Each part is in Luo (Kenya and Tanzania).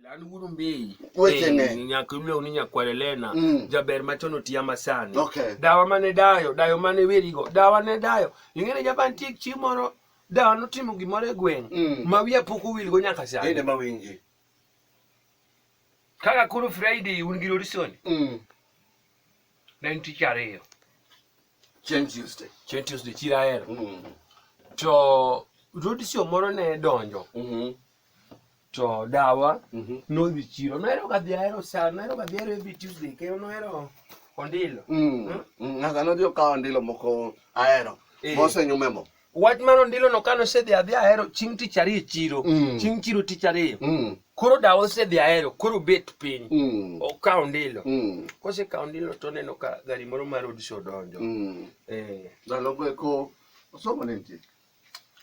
Lan wudu mbii. Weche ne. Eh, Nyak imlo ni nyakwale lena. Mm. Jaber machon otiya masani. Okay. Dawa mane dayo, dayo mane werigo. Dawa ne dayo. Ingene jaban tik chimoro. Dawa notimo gimoro e gweng. Mm. Ma wiya pok owil go nyaka sani. Ende ma winji. Kaka kuru Friday un gi Lorison. Mm. Ne en tich ariyo. Chen Tuesday. Chen Tuesday chira ero. Mm. To Lorison moro ne donjo. Mm -hmm. to dawa Mhm. nodhi chiro nohero kadhi ahero sa nohero kadhi ahero every tuesday kendo nohero ondilo Mm. Mm. Ng'aka nodhi okawo ndilo moko ahero. Eh. Mosenyume mo. wach mar ondilo no kano osedhi adhi ahero chieng' tich ariyo e chiro Mm. chieng' chiro tich ariyo Mm. koro dawa osedhi ahero koro bet piny Mm. okawo ondilo Mm. kosekawo ondilo to oneno ka gari moro mar odis odonjo Mm. Eh, Ndalo go eko osomo ne nitie.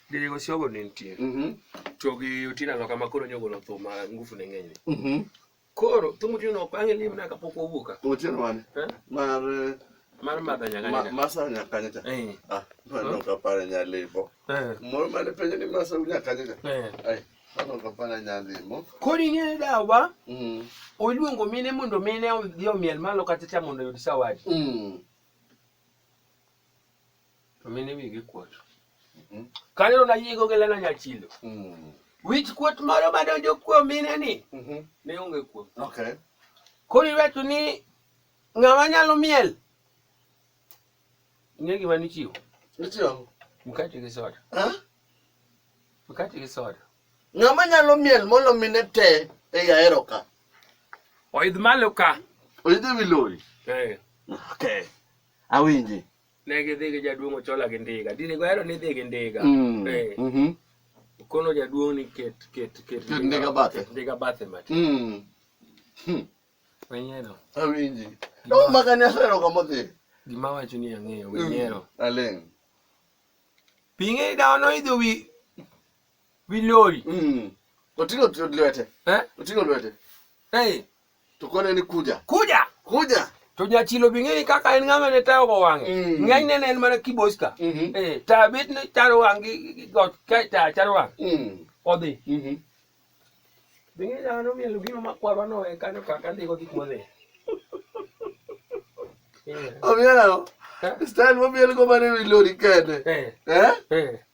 Dede Gosiogo ne nitie. Mhm. To gi Otina Loka ma koro nyogolo thum ma ngufu ne ng'enyne. Mhm. Koro thum Otina Loka ang'e ni mna kapok wawuok ka. Otieno mane? Eh? Mar eh, Mar madha nyaka ma- nyaka. Masa Nyakanyacha. Eh. Ah, mano ok apare nyalimo. Eh. Moro mane penjo ni Masa Nyakanyacha. Eh. Ai, mano ok apare nyalimo. Koro ing'e dawa Mm. oluongo mine mondo mine odhi omiel malo kachacha mondo oyud sawadi. Mm. To mine wigi kuot. Mhm. Kaneno na yigo gi lena nyachilo. Mm. Wich kuot moro madonjo kuom mine ni Mhm. ne onge kuom. Okay. Koro iwacho ni ng'ama nyalo miel. Ing'e gima nichiwo. Nichiwo. Mkate gi soda. Ha? Mkate gi soda. Ng'ama nyalo miel molo mine te e yaero ka. Oidh malo ka. Oidh ewi lori. Eh. Okay. Awinji. Ne gidhi gi jaduong' Ochola gi ndiga. Dine gohero ni dhi gi ndiga. Mm. Eh. Mhm. Kono jaduong' ni ket ket ket Ket ndiga bathe. ket Ndiga bathe matin. Mm. Hmm. Wenyero. Awinji. No maka ni asero kama dhi. Gima wacho ni ang'eyo Mm. wenyero. Aling. Pinge dawo no idho wi wi lori. Mm. Oting'o t- lwete. Eh? Oting'o lwete. Eh. To kone ni kuja. Kuja. Kuja. To nyachilo bing'eni kaka en ng'ama ne tayo go wang'e. Mm. Ng'eny ne en mana kiboska. Mm -hmm. Eh, ta bit ne charo wang' gi got ka ta charo wang'. Mm. Odhi. Mm -hmm. Bing'eni ano mielo gino makwarwa no e kanyo kaka ndiko gik modhi. Omiyo nang'o? Style momiel go mane wi lori kende. Eh. Eh? Eh.